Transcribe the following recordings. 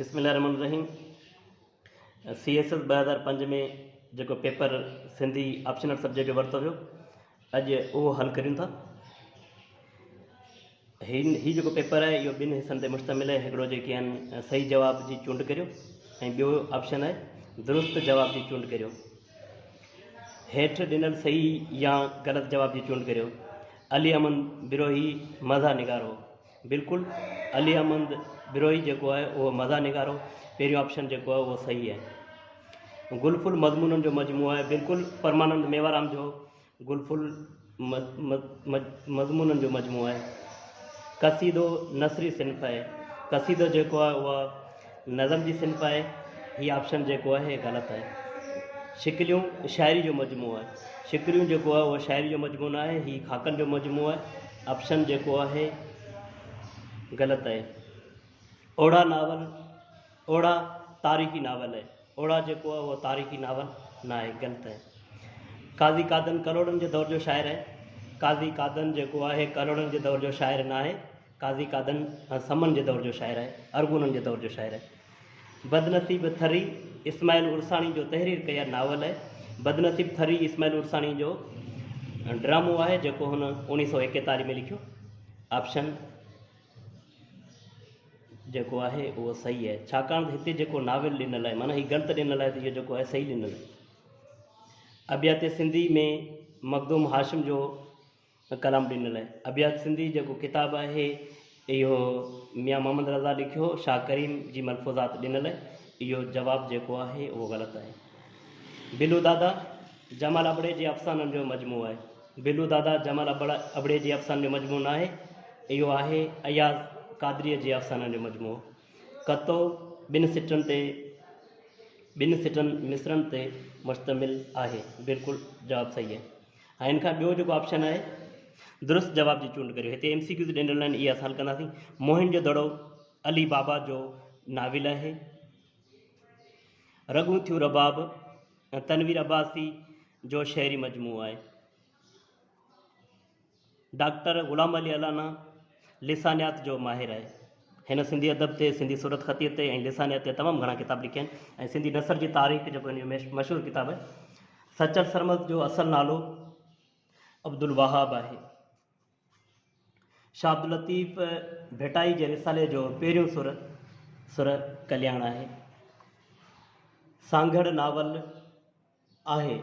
بسم الله الرحمن الرحيم سي ايس ايس ٻه هزار پنج ۾ جيڪو پيپر سنڌي آپشنل سبجيڪٽ جو ورتو ويو اڄ اهو حل ڪريون ٿا هي هي جيڪو پيپر آهي اهو ٻن حصن تي مشتمل آهي هڪڙو جيڪي آهن صحيح جواب جي چونڊ ڪريو ۽ ٻيو آپشن آهي درست جواب جي چونڊ ڪريو هيٺ ڏنل صحيح يا غلط جواب جي چونڊ ڪريو علي امن بروهي مزا نگارو بلڪل علي احمد بروهي جيڪو آهي اهو مزاح نگارو پهريون آپشن جيڪو آهي اهو صحيح آهي گل فل مضمونن جو مجموعو آهي بلڪل پرمانند ميوارام جو گل فل مضمونن جو مجموعو آهي قصيدو نثري صنف آهي قصيدو جيڪو آهي اهو نظم جي صنف آهي. هي آپشن جيڪو آهي هي غلط آهي. شڪليون شاعري جو مجموعو آهي. شڪليون جيڪو آهي اهو شاعري جو مجموعو نه آهي هي خاڪن جو مجموعو آهي. آپشن جيڪو آهي غلط آهي. اوڙا ناول اوڙا تاريخي ناول آهي. اوڙا جيڪو آهي اهو تاريخي ناول نه آهي غلط آهي. قاضي قادن ڪلهوڙن جي دور جو شاعر آهي. قاضي قادن جيڪو آهي ڪلهوڙن جي دور جو شاعر نه آهي. قاضي قادن هن سمن جي دور جو شاعر آهي، ارغونن جي دور جو شاعر آهي. بدنصيب ٿري اسماعيل عرساڻي جو تحرير ڪيل ناول آهي. بدنصيب ٿري اسماعيل عرساڻي جو ڊرامو آهي جيڪو هن اوڻيهه سؤ ايڪيتاليهه ۾ لکيو. آپشن جيڪو آهي اهو صحيح آهي ڇاڪاڻ ته هتي جيڪو ناول ڏنل آهي معنيٰ هي ڳڻت ڏنل آهي ته اهو جيڪو آهي صحيح ڏنل آهي ابيات سنڌي ۾ مخدوم هاشم جو ڪلام ڏنل آهي. ابيات سنڌي جيڪو ڪتاب آهي اهو ميان محمد رضا لکيو شاهه ڪريم جي ملفوظات ڏنل اهو جواب جيڪو آهي اهو غلط آهي. بلو دادا جمال ابڙي جي افسانن جو مجموعو آهي. بلو دادا جمال ابڙي جي افسانن جو مجموعو ناهي اهو آهي اياز قادريء جي افسانن جو مجموعو. ڪتو ٻن سٽن تي ٻن سٽن مصرعن تي مشتمل آهي. بلڪل جواب صحيح آهي. ها ان کان ٻيو جيڪو آپشن آهي درست جواب جي چونڊ ڪريو هتي ايم سي ڪيوز ڏيندڙ لائن اها سال ڪنداسين موهن جو دڙو علي بابا جو ناول آهي رڳون ٿيون رباب تنوير عباسي جو شعري مجموعو آهي ڊاڪٽر غلام علي الانا لسانيات جو ماهر آهي. هن سنڌي ادب تي، سنڌي صورتخطيء تي ۽ لسانيات تي تمام گهڻا ڪتاب لکيا آهن ۽ سنڌي نثر جي تاريخ جيڪو هن جو مشهور ڪتاب آهي. سچل سرمست جو اصل نالو عبدالوهاب آهي. شاهه عبداللطيف ڀٽائي جي رسالي جو پهريون سر سر ڪلياڻ آهي. سانگهڙ ناول، آهي.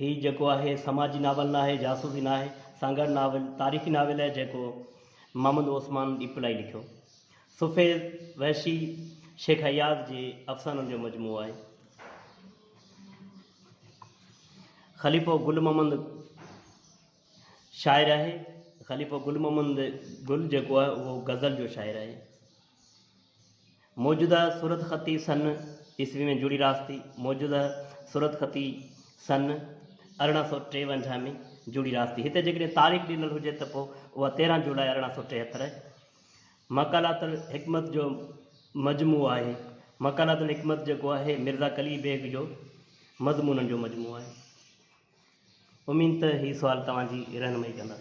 هي جيڪو آهي سماجي ناول ناهي، جاسوسي ناهي، سانگهڙ ناول، تاريخي ناول آهي جيڪو محمد عثمان ڏيپلائي لکيو. سفيد، وحشي، شيخ اياز جي افسانن جو مجموعو آهي. خليفو گل محمد شاعر آهي. خليفو گل محمد گل جيڪو آهي اهو غزل جو شاعر آهي. موجوده صورتخطي سن عيسوي ۾ جڙي راستی موجوده صورتخطي سن ارڙهن سؤ ٽيونجاهه ۾ جڙي راستی هتي جيڪڏهن تاريخ ڏنل هجي ته پوء اها تيرهن جولاء ارڙهن سؤ ٽيهتر آهي. مقالات الحڪمت جو مجموعو آهي. مقالات الحڪمت جيڪو آهي مرزا قلي بيگ جو مضمونن جو مجموعو آهي. اميد ته هي سوال توهان جي رهنمائي ڪندا.